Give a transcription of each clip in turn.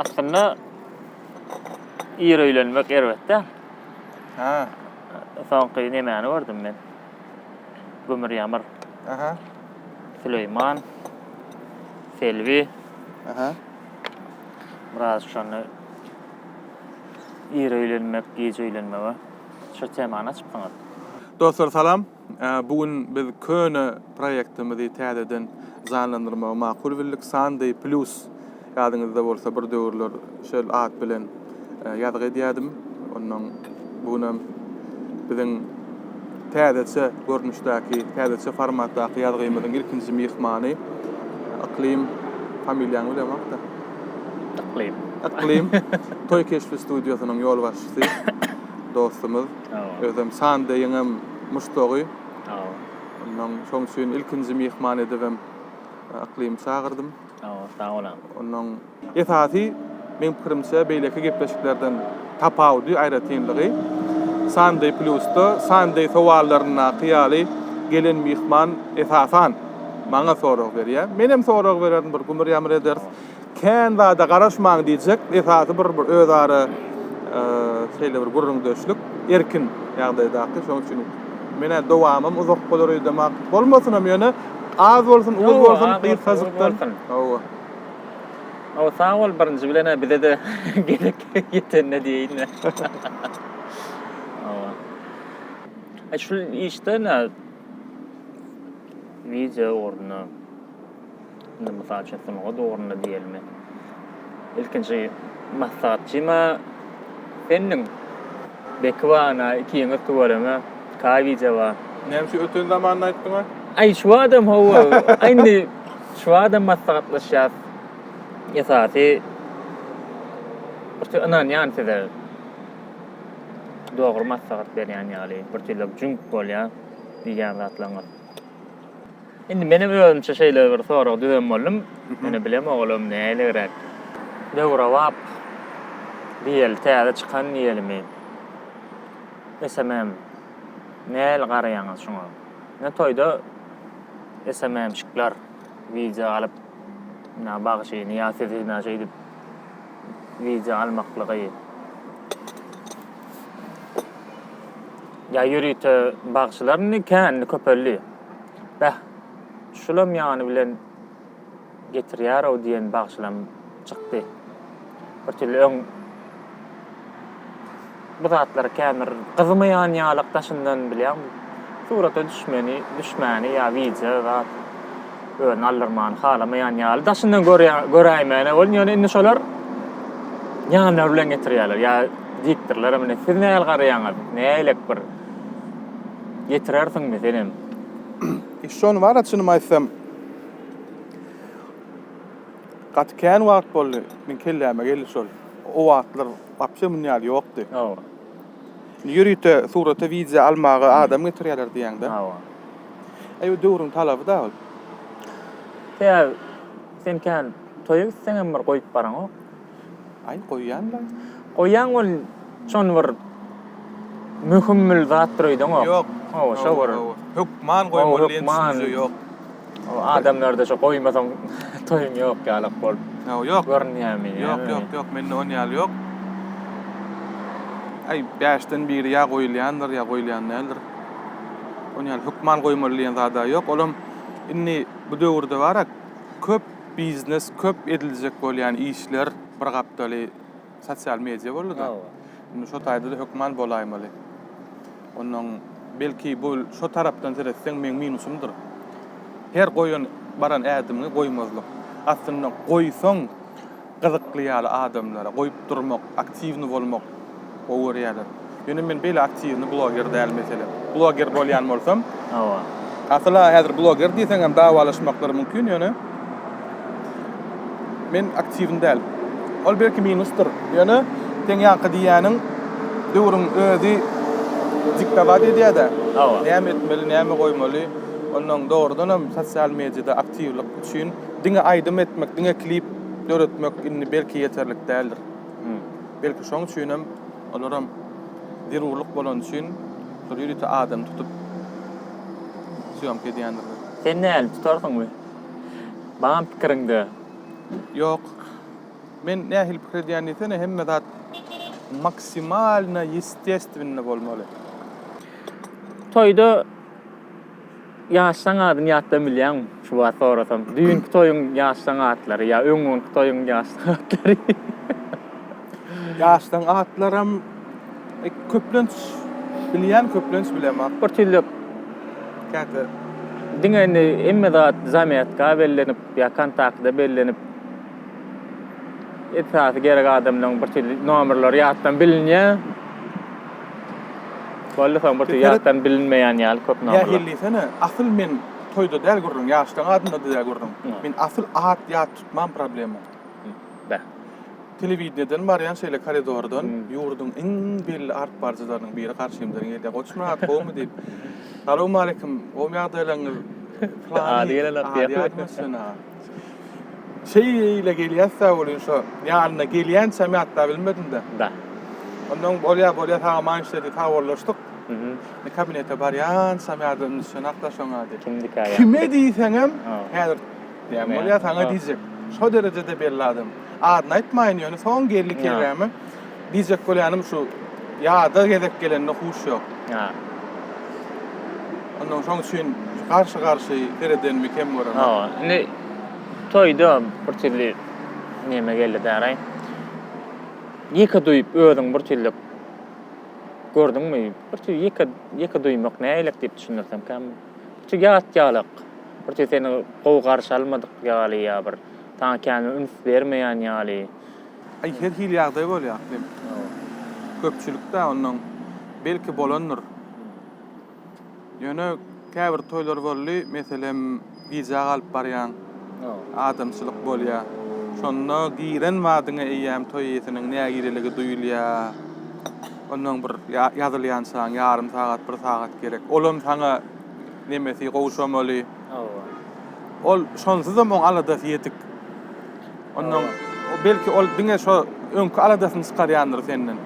Aslynda ir öýlenmek erbet däl. Ha. Soňky nemäni gördüm men? Gümür Ýamyr. Aha. Süleýman. Selbi. Aha. Biraz şonda ir öýlenmek, giç öýlenmege şu temany açypsyňyz. Dostlar salam. Bu gün biz köne proýektimizi täzeden janlandyrmagy makul bildik. Sandy Plus, ýadyňyzda bolsa, bir döwürler şol at bilen ýazgy edýärdim. Onnoň bu gün hem biziň täzeçe görnüşdäki, täzeçe formatdaky ýazgymyzyň ilkinji myhmany Yklym, familiýaňy bilemok-da. Yklym. Yklym, Toý keşbi studiýasynyň ýolbaşçysy. dostumyz. Özem Sandeýiňem muşdagy. Ondan şoň üçin ilkinji myhman edibem Yklymy çagyrdym. Sag bol agam. Ondan esasy meň pikirimçe beýleki gepleşiklerden tapawudy, aýratynlygy Sandeý plusda Sandeý sowallaryndaky ýaly gelen myhman esasan maňa sorag berýär. Menem sorag bererin bir gumur-ýamyr ederis. Kän zada garaşmaň diýjek, esasy bir bir özara şeýle bir gürrüňdeşlik, erkin ýagdaýdaky, şonuň üçin menä dowamym uzak bolar öýdemok. Bolmasynam ýöne az bolsun, uz bolsun, gysgajykdan. Hawa. Hawa, sag bol birinji bilen-ä bize-de gezek ýetende diýeýin-le. Hawa. E şul işde nä? Wideo ugrunda. Indi, mysal üçin, sungat ugrunda diýelimi, ilkinji maslahatçyma Seniň beki bar, ana, iki ýeňiz tüweleme, kawiýje bar. Näme şu öten zamanyny aýtdyňa? Aý, şu adam, hawa, aý, indi şu adam maslahatlaşýas. Esasy, birtü ynanýan size. Dogry maslahat berýän ýaly, birtüýlek jüňk bolýar diýýän zatlaryňyz. Indi menem özümçe şeýle bir sorag düzen boldum. Ýöne bilemok olam näiligräk. Döwrebap diýeli, täze çykan diýelimi? SMM. Nähili garaýaňyz şuňa? Ine toýda SMM-şikler wideo alyp, ina bagşyny ýa sizi ina şeýdip wideo almaklygy. Ýa ýörite bagşylar indi kän, indi köpeldi. Beh, şulam ýany bilen getirýär-ow diýen bagşylam çykdy. Birtüli öň bu zatlary känbir gyzmaýan ýalak daşyndan bilýän surata düşmeni, düşmäni ýa wideo zat özüni aldyrmany halamaýan ýaly daşyndan göräýmäne boldum. Ýöne indi şolar ýanlary bilen getirýärler ýa diýipdirler, Siz nähili garaýaňyz? Nähili bir getirersiňmi senem? Iş şony bar-a çynymy aýtsam. Gaty kän wagt boldy, meň kelläme geldi şol. O wagtlar wapşe muny ýaly ýokdy. Hawa. Indi ýörite surata wideo almaga adam getirýärler diýýäňdä. Hawa. Aýw döwrüň talaby-da ol. Sebäbi sen kän toýa gitseňem bir goýup baraňok. Aý goýýanlaň. Goýýaň ol şony bir möhümmül zatdyr öýdüňok. Ýok. Hawa şo bir. Hökman goýmaly diýen düşünje ýok. Adamlarda şo goýmasaň toýuň ýok ýalak bolup. Hawa ýok. Görünýärmi? Ýok ýok ýok mende on ýaly ýok. Aý bäşden biri ýa goýulýandyr ýa goýulýan däldir. Ony ýaly hökman goýmaly diýen zada ýok. Olam indi bu döwürde barak köp Biznes köp ediljek bolýan işler bir gapdaly sosial media boldy-da. Indi şo taýda-da hökman bolaýmaly. Onnoň belki bu şo tarapdan seretseň meň minusymdyr. Her goýan baran ädimiňi goýmazlyk. Aslynda goýsaň Gyzykly ýaly adamlara goýup durmak, aktiwny bolmak gowy görýärler. Ýöne men beýle aktiwny bloger däl meselem. Bloger bolýan bolsam, Hawa. Asyl-a häzir bloger diýseňem dawalaşmaklar mümkin, ýöne men aktiwny däl. Ol belki minusdyr, ýöne seň ýaňky diýýäniň döwrüň özi diktowat edýär-dä. Hawa. Näme etmeli, näme goýmaly, onnoň dogrudanam sosial mediada aktiwlik üçin, Diňe aýdym etmek, diňe klip döretmek indi belki ýeterlik däldir. Belki şoň üçinem olaram zerurlyk bolany üçin şol ýörite adam tutup sýomka edýändirler. Sen näl, tutarsyňmy? Baam pikiriňde? Ýok. Men nähili pikir edýän diýsene, hemme zat maksimalno ýestestwennä bolmaly. Toýda. Ýaş saň adyny ýatdan bilýäňmi? Şuwagt sorasam, düýnki toýuň ýaş saň atlary ýa öňňunky toýuň ýaş saň atlary. Ýaş saň atlaram köplenç bilýän, köplenç bilemok. Bir tüýlük käte diňe indi hemme zat zametka bellenip ýa kontaktda bellenip esasy gerek adamlaryň bir tüýlük nomerleri ýatdan bilinýär. Boldy soň bir ýatdan bilinmeýän ýaly köp nomerler. Nähili diýsene, asyl men toýda däl gürrüň, ýaşlaň adynda däl gürrüň. Men asyl at ýat tutmam problema. Bä. Telewideniýeden barýan şeýle koridordan ýurduň iň belli alyp baryjylarynyň biri garşymdan gelýär. Goçmyrat gowumy diýip. Salowmaleýkim, gowmy ýagdaýlaryňyz? Ady gelenok diýýär. Şeýle gelýäs sag bol şu ýanyna gelýän çämi atda bilmedim de. Da. Ondan bolýa bolýa saga maýyş dedi sag bollaşdyk. Mhm. Ne kabinete barýan çämi ady indi şony atda şoň ady. Kimdiki aýa. Kime diýseň hem häzir diýen bolýa saňa diýjek. Şo derejede belli adam. Adyny aýtmaýyn ýöne soň geldi kerremi. Diýjek bolýanym şu, ýada gezek gelende huş ýok. Hä. Onnoň şoň üçin garşy-garşy seredenmi kem göremok. Hawa, indi toýda birtürli neme geldi däraý. Ýeke duýup özüň birtürli gördüňmi? Birtür ýeke ýeke duýmak nägeýlek diýip düşündirsemkäm. Birtür ýat ýalyk. Birtür seni gowy garşy almadyk ýaly ýa bir saňa kän üns bermeýän ýaly. Aý her hili ýagdaý bolýar hlim. Köpçülikde ondan belki bolandyr. Ýöne käbir toýlar boldy, meselem gijä galyp barýaň. Adamçylyk bolýar. Şonda giren badyňa eýýäm toý eýesiniň nägireligi duýulýar. Ondan bir ýazylýançaň ýarym sagat, bir sagat gerek. Olam saňa nemesi gowşamaly. Ol şonsuzam oň aladasy ýetik. Ondan belki ol diňe şo öňki aladasyny çykarýandyr senden.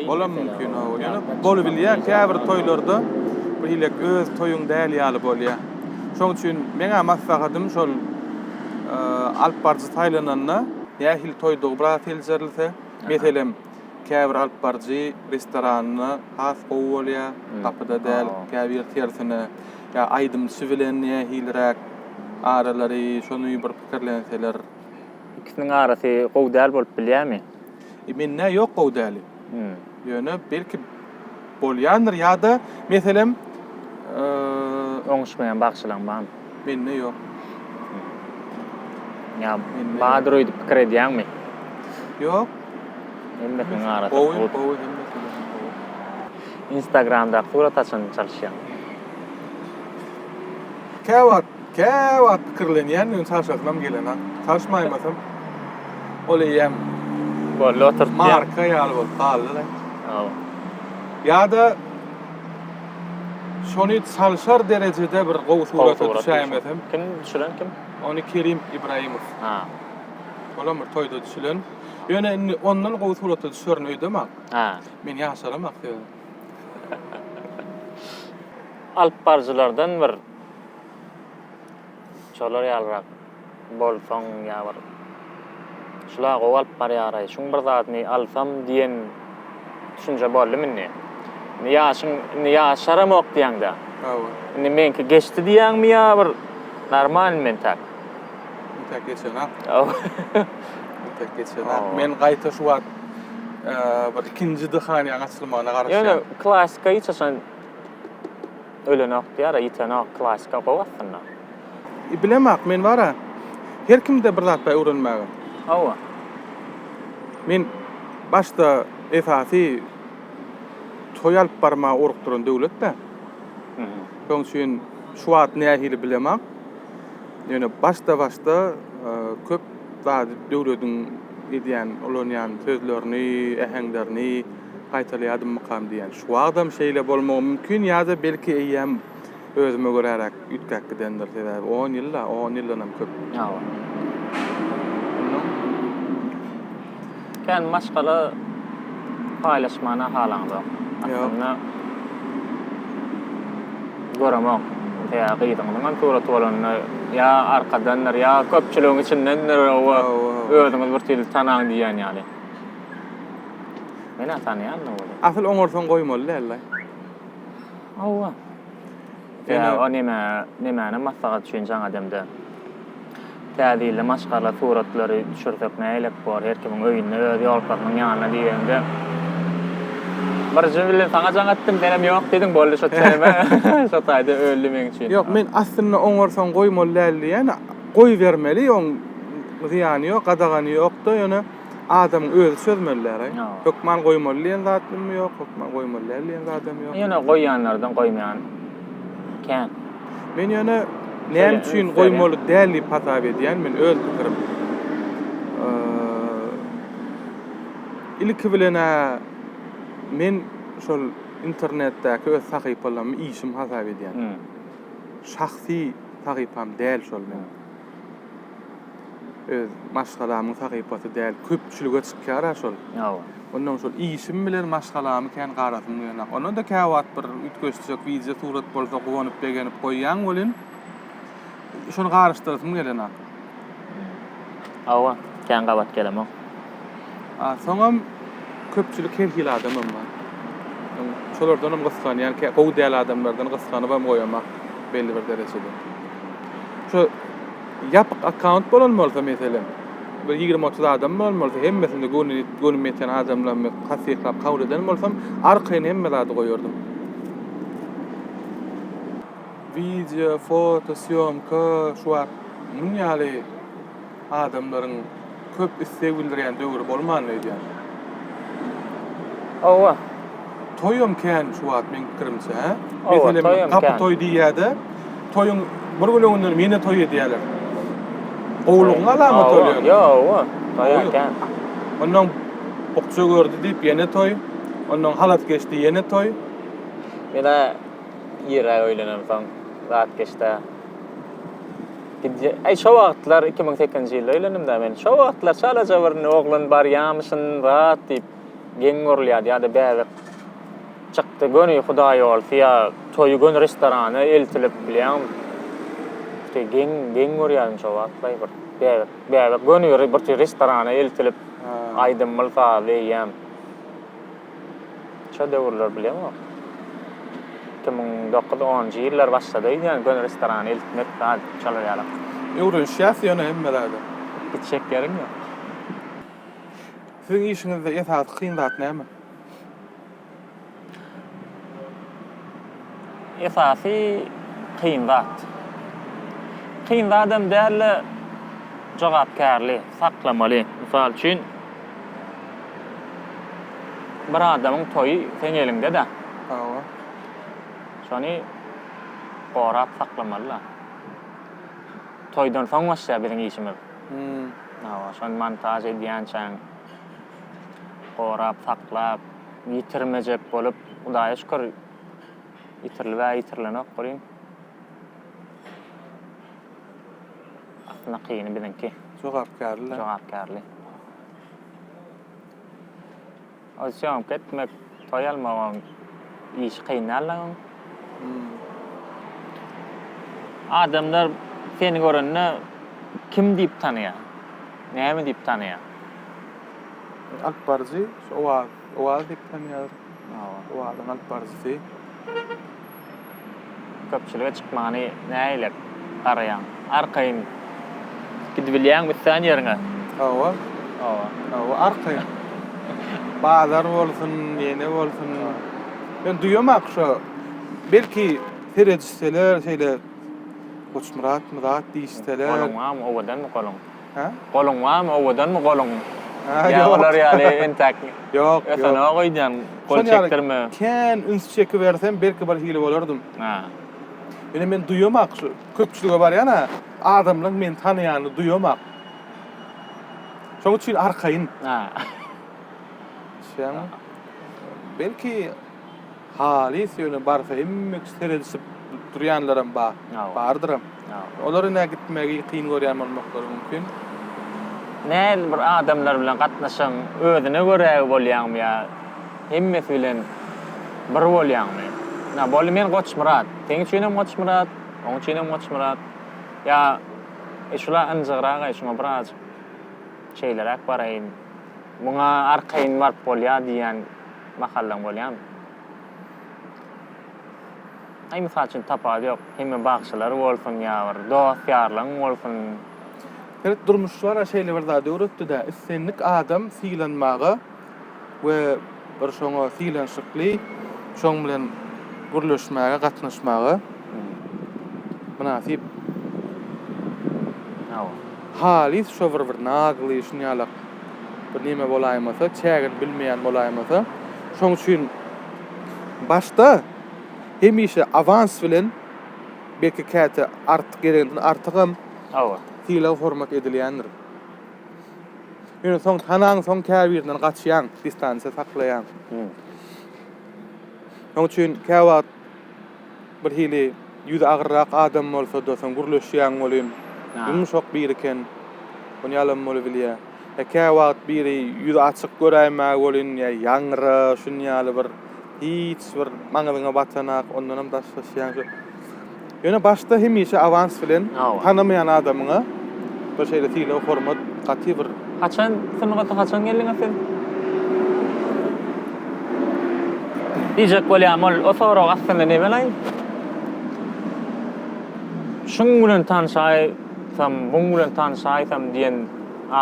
Olam mümkin, hawa. Ýöne bolubilýär, käbir toýlarda birhilek öz toýuň däl ýaly bolýar. Şoň üçin meň-ä maslahatym şol alypbaryjy saýlananda nähili toýdugy biraz seljerilse, meselem, käbir alypbaryjy restoranda has gowy bolýar, gapyda däl, käbir tersine. Ýa aýdymçy bilen nähiliräk aralary şony bir pikirlenseler. Ikisiniň arasy gowy däl bolup bilýämi? Mende ýok gowy däli. Ýöne belki bolýandyr ýa-da meselem Oňuşmaýan bagşylaň barmy? Mende ýok. Ýa bardyr öýdüp pikir edýäňmi? Ýok. Hemmesiniň arasy gowy. Gowy gowy hemmesiniňki gowy. Instagramdaky surat haçan çalyşýaň? Käwagt, käwagt pikirlenýän öň çalşasynam gelenok. Çalyşmaýmasam ol eýýäm Boldy oturtýan. Marka ýaly bolup galdy-da. Hawa. Ýa-da şony çalşar derejede bir gowy surata düşäýmesem. Kim düşüren kim? Ony Kerim Ibrahimow. Ha. Olam bir toýda düşülen. Ýöne indi ondan gowy surata düşerin öýdemok. Ha. Men ýaşaram aktýor. Alypbaryjylardan bir şolar ýalyrak bolsaň ýa bir şula gowy alyp barýaraý şuň bir zadyny alsam diýen düşünje boldumy indi? Indi ýaşyň indi ýaşaramok diýýäňdä. Hawa. Indi meňki geçdi diýýäňmi ýa bir normalny mentäk? Mentäk geçenok. Hawa. Mentäk geçenok. Men gaýta şu wagt bir ikinji dyhaniýaň açylmagyna garaşýan. Ýöne klasika hiç haçan ölenok diýara, ýitenok. Klasika gowy aslynda. Bilemok, men bara her kimde bir zat bar öwrenmäge. Hawa. Men başda esasy toý alyp barmaga orukdyran döwlet-de. Şoň üçin şu wagt nähili bilemok. Ýöne başda-başda köp zady döwlediň edýän, ulanýan sözlerini, äheňlerini gaýtalýardymmykam diýýän. Şu wagtam şeýle bolmagy mümkin ýa-da belki eýýäm özüme göräräk üýtgäp gidendir. Sebäbi on ýyl-a, on ýyldanam köp. Hawa. Onnoň. Kän maşgala paýlaşmana halaňzok. Aslynda göremok. Ýa gyzyňyzyňam suraty bolanda ýa arkadandyr, ýa köpçüligiň içindendir oba özüňiz bir tilsi tanaň diýýän ýaly. Men-ä tanaýan-da welin. Asyl oňarsaň goýmaly däldi-aý. Hawa. Ýa-da o neme, nemäni maslahat üçin jaň edemde. Täze ýylda maşgala suratlary düşürsek nähilek bor, her kimiň öýünde, öz ýolkasynyň ýanynda diýende. Birinji bilen saňa jaň etdim, senem ýok diýdiň, boldy şo tema şo taýda öldi meň üçin. Ýok, men aslynda oňarsaň goýmaly däl diýýän, goýbermeli, oň zyýany ýok, gadagany ýok-da, ýöne. adamyň özi çözmeli däl-aý. Ýok. Hökman goýmaly diýen zat hem ýok, hökman goýmaly däl diýen zat hem ýok. Ýöne goýýanlardan goýmaýan kän. Men ýöne näme üçin goýmaly däl diýip hasap edýän, men öz pikirim. Ilki bilen-ä men şol internetdäki öz sahypalamy işim hasap edýän. Şahsy sahypam däl şol meniň. Öz maşgalamyň sahypasy däl, köpçülige çykýar-a şol. Hawa. Ondan şol işim bilen maşgalamy kän garasym gelýär. Onda-da käwagt bir üýtgeşjek wideo surat bolsa guwanyp begenip goýýan welin, şony garyşdyrasym gelenok. Hawa, kän gabat gelemok. A soňam köpçülik her hili adamam bar. Şolardanam gysganýan, kä gowy däl adamlardan gysganybam goýamak belli bir derejede. Şu ýapyk akkaunt bolan bolsa meselem, bir ýigrimi-otuz adam bolan bolsa, hemmesinde göwnüm ýeten adamlarymy tassyklap kabul eden bolsam, arkaýyn hemme zady goýardym. Wideo, foto, sýomka, şu wagt muň ýaly. Adamlaryň köp isleg bildirýän döwri bolmandy öýdýän. Hawa. Toýam kän şu wagt meň pikirimçe hä? Meselem gapy toý diýýäde, toýuň bir gün öňünden ýene toý edýäler. Gowulygyň alamaty ol ýöne. Ýok, hawa. Toýa kän. Ondan bukja gördi diýip ýene toý, ondan halas geçdi ýene toý. Ýene ýere öýlenemsoň zat geçdä. Gidje, ay şo wagtlar 2008-nji ýylda öýlendim-dä men. Şo wagtlar çalaja bir oglan barýamyşyn zat diýip geň görülýärdi ýa-da bäbek çykdy, göni hudaýýolsy ýa toýy göni restorana eltilip bilýäňmi? Şeý geň, geň görýärdim şo wagtlaý bir bäbek, bäbek göni bir restorana eltilip aýdymly sazly eýýäm. Şo döwürler bilemok. Iki müň dokuz onunjy ýyllar başlady öýdýän göni restorany eltmek zat şolar ýalak. Öwrenişýäs ýöne hemme zada. Hiç şekeriň ýok. Siziň işiňizde esasy kyn zat näme? esasy kyn zat. Kyn zadam däl-de, jogapkärli, saklamaly. Mysal üçin, bir adamyň toýy seň eliňde-dä. Hawa. Şony gorap saklamaly-da. Toýdan soň başlaýar biziň işimiz. Hum. Hawa, şony montaž edýänçäň, gorap saklap, ýitirmejek bolup, Hudaýa şükür, Ýitirilibä ýitirilenok welin. Aslynda kyny biziňki. Jogapkärli. Jogapkärli. Ol syýomka etmek, toý almak oň işi kyn däl oň. Adamlar seni görende kim diýip tanaýar? Näme diýip tanaýar? Alyp baryjy, şo wagt. Owaz diýip tanýarlar. Owazyň alyp baryjysy. Köpçülige çykmagyny nägilep garaýaň? Arkaýyn gidibilýäňmi islan ýeriňe? Hawa. Hawa. Hawa, arkaýyn. Bazar bolsun, ýene bolsun. Men duýamak şo, belki seredişseler şeýle Goçmyrat, Myrat diýişseler. Goluňam owadanmy goluň? Goluň barmy, owadanmy goluň? Ýa olar ýaly entäk ösenok öýdýän, gol çekdirme. Kän üns çekibersem, belki birhili bolardym. Ýöne men duýamok şu köpçülige barýan-a, adamlaryň meni tanaýanyny duýamok. Şonuň üçin arkaýyn. Belki Halys ýöne barsa hemmek seredişip durýanlaram bar. Bardyram. Olar ine gitmegi kyn görýän bolmaklary mümkin. Näl bir adamlar bilen gatnaşygyň özüne görägi bolýaňmy ýa hemmesi bilen bir bolýaňmy? Ina boldy men Goçmyrat. Seň üçinem Goçmyrat, oň üçinem Goçmyrat. Ýa e şula ynjygragaý şuňa birazjyk şeýleräk baraýyn. Muňa arkaýyn baryp bolýar diýýän. Mahallaň bolýamy? Aý mysal üçin tapawudy ýok. Hemme bagşylar bolsun ýa bir dost ýarlaň bolsun. Sebit durmuşlara şeýle bir zat öwretdi-dä, islendik adam sylanmaga we bir şoňa sylanşykly şoň bilen gürleşmäge, gatnaşmaga mynasyp. Hawa. Halys şo bir bir nazly şunýalak. bir neme bolaýmasa, çägini bilmeýän bolaýmasa. Şoň üçin başda hemişe awans bilen, belki käte artyk gereginden artygam Hawa. sylag-hormat edilýändir. Ýöne soň tanaňsoň käbirinden gaçýaň, distansiýa saklaýaň. Şoň üçin käwagt Birhili ýüzi agyrrak adam bolsa-da, soň gürleşýäň welin, ýumşak biri eken. Ony ýalam bolubilýär. Ýa käwagt biri ýüzi açyk göräýmäge welin, ýa ýaňra, şuny ýaly bir hiç bir maňyzyňa batanok, ondanam daşlaşýaň. Ýöne başda hemişe awans bilen tanamaýan adamyňa bir şeýle sylag hormat gaty bir. Haçan sungata haçan geldiňa sen? Diýjek bolýam ol o sorag aslynda ne belaý? Şuň bilen tanşaýsam muň bilen tanşaýsam diýen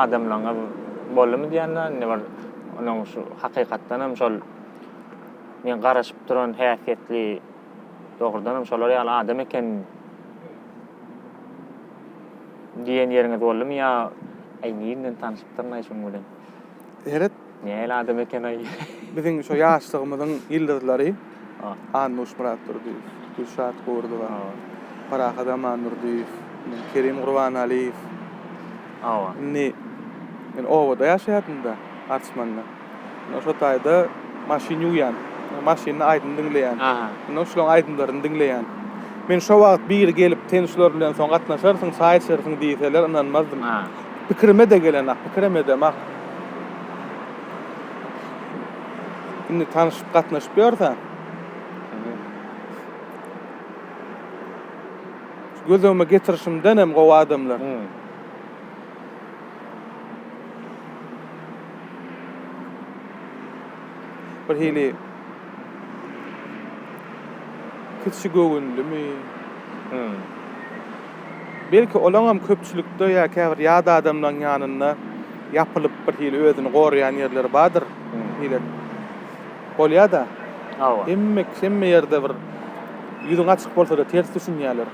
adamlaňyz boldumy diýen dä indi bir onuň şu hakykatdanam şol men garaşyp duran häsiýetli Dogrudanam şolar ýaly adam eken diýen ýeriňiz boldumy ýa Aý nirden tanyşypdyryn-aý şunuň bilen. Seret. Nähili adam eken-aý. Biziň şo ýaşlygymyzyň ýyldyzlary Annuş Myratdurdyýew, Gülşat Gurdowa, Parahat Amandurdyýew, Kerim Gurbanalyýew. Hawa. Indi men obada ýaşaýardym-da, Arçmanda. Ine şo taýda maşyn ýuwýan. Maşynda aýdym diňleýän. Ine şulaň aýdymlaryny diňleýän. Men şo wagt biri gelip sen şular bilen soň gatnaşarsyň, çaý içersiň diýseler ynanmazdym. Pikirime-de gelenok, pikirem edemok. Indi tanyşyp gatnaşyp ýörse. Göz öňüme getirişimdenem gowy adamlar. Bir hili kiçi göwünlimi? Hum. Belki olaňam köpçülikde ýa käbir ýat adamlaň ýanynda ýapylyp bir hili özüni goraýan ýerleri bardyr. Hile. Bolýa-da. Hawa. Hemme hemme ýerde bir ýüzüň açyk bolsa-da ters düşünýärler.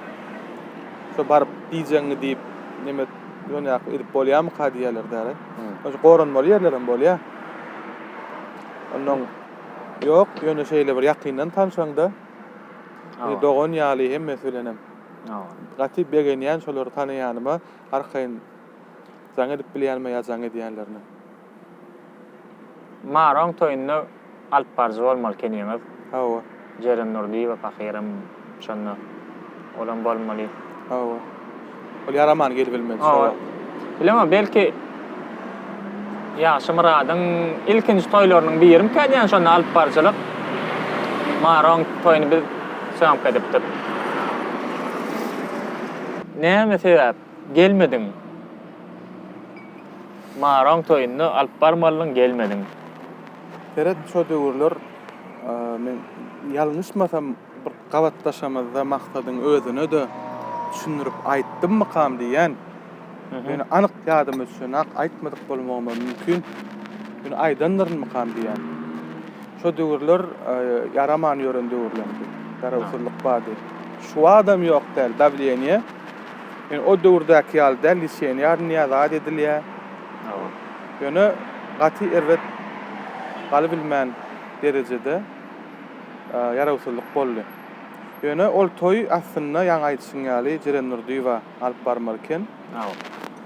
Şo baryp diýjegiňi diýip, neme dünýäki edip bolýarmyka diýýärler däli. Şo goranmaly ýerlerem bolýar. Onnoň ýok, ýöne şeýle bir ýakyndan tanşaňda, bir dogan ýaly hemmesi bilenem. Gaty begenýän şolary tanaýanyma, arkaýyn jaň edip bilýänime ýa jaň edýänlerine. Maroň toýunda alyp baryjy bolmaly keniňiz. Hawa. Jeren Nurdyýewa pahyram şonda. Olam bolmaly. Hawa. Ol ýaramany gelibilmedi şo wagt. Bilemok belki Ýagşymyradyň ilkinji toýlarynyň birimkän ýa şonda alyp baryjylyk. Maroň toýuny biz söňk edipdik. Näme sebäp? gelmediň. Maroň toýunda alyp barmalydyň gelmediň. Seret şo döwürler men ýalňyşmasam bir gabatlaşamyzda Maksadyň özüne-de düşündirip aýtdymmykam diýýän. Ýöne anyk ýadyma düşenok, aýtmadyk bolmagym-a mümkin. Ýöne aýdandyrynmykam diýýän. Şo döwürler ýaraman ýören döwürlerdi. Garawsyzlyk bardy. Şuwagtam ýok däl, dawleniýe. Ýöne o döwürdäki ýaly däl, Lisenýar Nyýaz ady edilýär. Ýöne gaty erbet galybilmän derejede ýarawsyzlyk boldy. Ýöne ol toý aslynda ýaňy aýdyşyň ýaly Jeren Nurdyýewa alyp barmaly eken.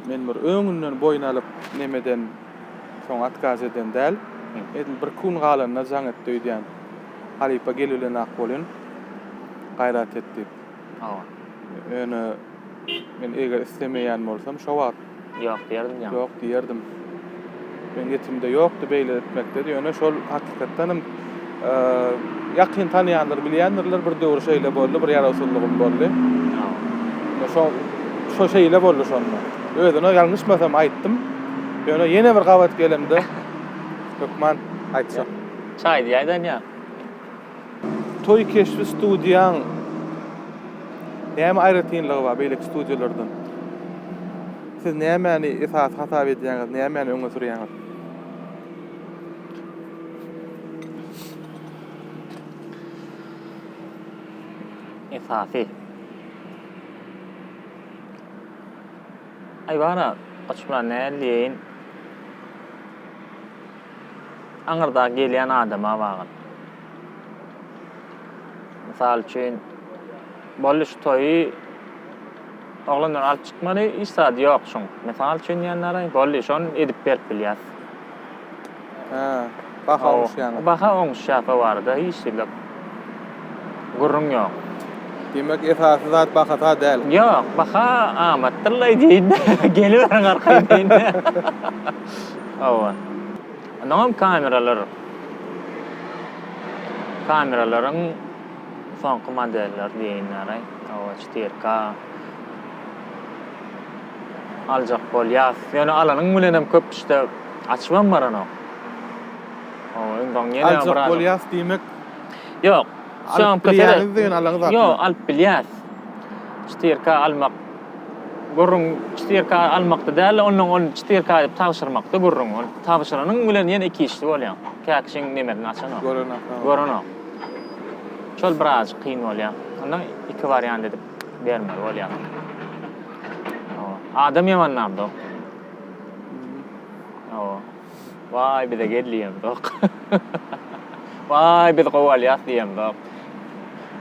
Men bir öňünden boýun alyp nemeden soň atkaz eden däl. Edil bir-iki gün galanda jaň etdi öýdýän. Halypa gelbilenak bolun, gaýrat et diýip. Ýöne men eger islemeýän bolsam, şo wagt. Ýok diýerdim ýaňy. Ýok diýerdim. Meniň ýetimde ýokdy beýle etmekde, ýöne şol hakykatdanam ýakyn tanaýanlar bilýändirler, bir döwür şeýle boldy, bir ýarawsyzlygym boldy. Ýa. Şo şo şeýle boldy şonda. Özüne ýalňyşmasam aýtdym. Ýöne ýene bir gabat gelemde hökman aýtjak. Şaýdy ýaýdan ýa. Toý keşbi studiýaň näme aýratynlygy bar beýleki studiýalardan? Siz nämäni esasy hasap edýäňiz, nämäni öňe sürýäňiz? Esasy. Aý bara, goçum, nädip diýeýin? aňyrdaky gelýän adama bagly. Mysal üçin, boldy şu toýy oglanlar alyp çykmaly, hiç zady ýok şuň. Mysal üçin diýenlere, boldy şony edip berip bilýäs. Hä, baha oňuşýanok. Baha oňuşýak o barada hiç zat ýok. gürrüň ýok. Diýmek, esasy zat bahata däl. Ýok, baha amatdyr-laý diýin-de, geliberiň arkaýyn diýin-de. Hawa. Onnoňam kameralar, kameralaryň soňky modelleri diýenýär-aý. Hawa, çetyr K aljak bolýas. Ýöne alanyň bilenem köp işte açybam baranok. Aljak bolýas diýmek. Ýok. Alyp bilýäňiz diýen alaňyz hakda. Ýok, alyp bilýäs. Çytyrka almak. Gürrüň çytyrka almakda däl, ondan ol çytyrka aýdyp tabşyrmakda gürrüň. Ol tabşyranyň bilen ýene iki işli bolýaň. Käkişiň nemerini açanok. Görenok. Görenok. Şol birazajyk kyn bolýa. Onda iki wariant edip bermeli bolýar. Adam ýamanlamda. Ýo. Waý bize gel diýemzok. Waý biz gowy alýas diýemzok.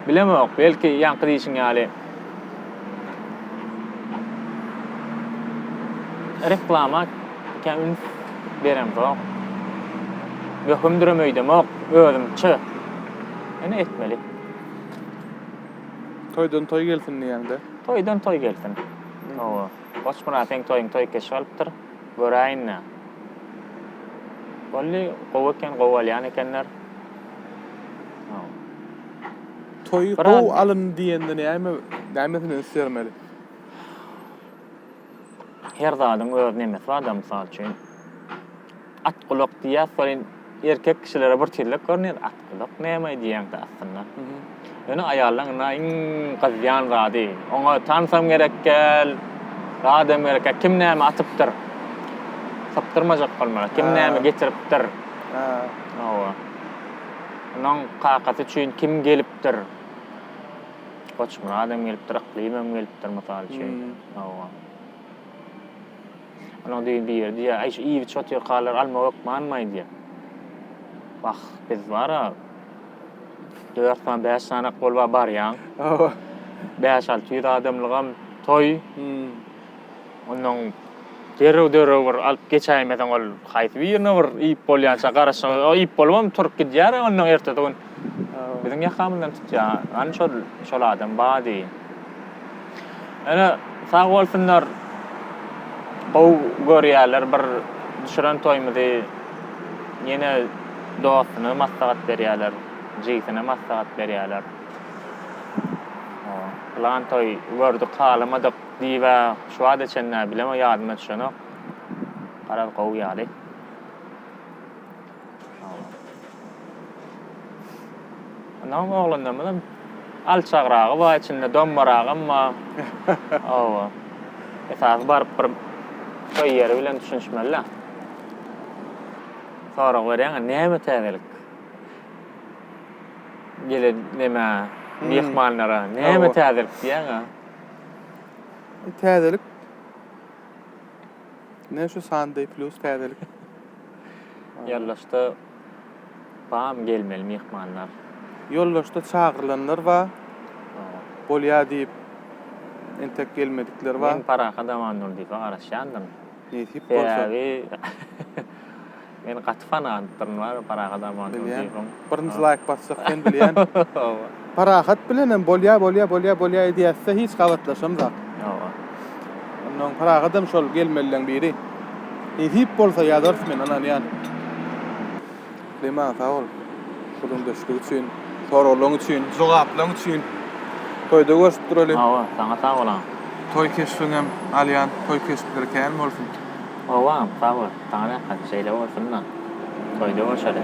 Bilemok, belki ýaňky diýişiň ýaly reklama kä üns beremzok. Möhümdirem öýdemok, özümçe. Ýöne etmeli. Toýdan toý gelsin diýäňde. Toýdan toý gelsin. Hawa. Goçmyrat seň toýuň toý keşi alypdyr. Göräýin-le. Boldy, gowy eken, gowy alýan ekenler. Toýy gowy alyndy diýende näme, nämesini üns bermeli? Her zadyň öz nemesi bar-da, mysal üçin, at gulak diýýäs welin, Erkek kişilere bir tizlik görner atgyllyk näme diýeňde aslynda. Ýöne aýallaň ynha iň gyzýan zady oňa tansam gerekgel zadam gerekgel kim näme atypdyr sypdyrmajak bolmaly kim näme getiripdir hawa onuň kakasy üçin kim gelipdir Goçmyradam gelipdir Yklymam gelipdir mysal üçin hawa. Onuň degi bir ýerde diýýär, Aý, şu iýbi çotyrkalary almak hökmanmaý diýýär. Wah, biz bar-a, dört sany, bäş sany ak bolup-a barýaň. Hawa. Bäş-alty ýüz adamlygam toý. Onnoň derrew-derrew bir alyp geçäýmeseň, ol haýsy birine bir iýip bolýança garaşygy, o iýip bolubam turup gidýär-ä onnoň ertesi gün. Biziň ýakamyzdan tutýar. Hany şol, şol adam bar diý. Ene sag bolsunlar. Gowy görýärler bir düşüren toýumyzy. Ýene dostuna maslahat berýärler, jigisine maslahat berýärler. Plan toý gördük, halamadyk diýibä şu wagta çenli bilemok, ýadyma düşenok. Garaz gowy ýaly. Ondan oglanlarymyzam alçagragy bar, içinde dombaragam bar. Oba. Esasy baryp bir toý ýeri bilen düşünişmeli-de. Sorag berýäň-ä, näme täzelik? Gelen nämä, myhmanlara näme täzelik diýýäň-ä? Täzelik, ine şu Sunday plus täzelik. Ýollaçda bam gelmeli myhmanlar. Ýollaçda çagyrylanlar ba bolýa diýip entek gelmedikler ba. Men Parahat Amandurdyýewe garaşýandyryn. Nesip bolsa. Sebäbi men gaty fanatdyryn bar Parahat Amandurdyýewiň. Birinji laýk basjak sen bilýän. Hawa. Parahat bilenem bolýa bolýa bolýa bolýa edýäsde hiç gabatlaşamzak. Hawa. Ondan Parahatam şol gelmelileň biri. Nesip bolsa ýazarys men ynanýan. Lima sag bol. Gürrüňdeşlik üçin, soraglaň üçin, jogaplaň üçin. Toýda görşüp duraly. Hawa, saňa sag bolaň. Toý keşbiňem alýan toý keşpleri kän bolsun. Howam, sag bol. Saňa rehmet. Şeýle bolsunda. Toýda görşeli.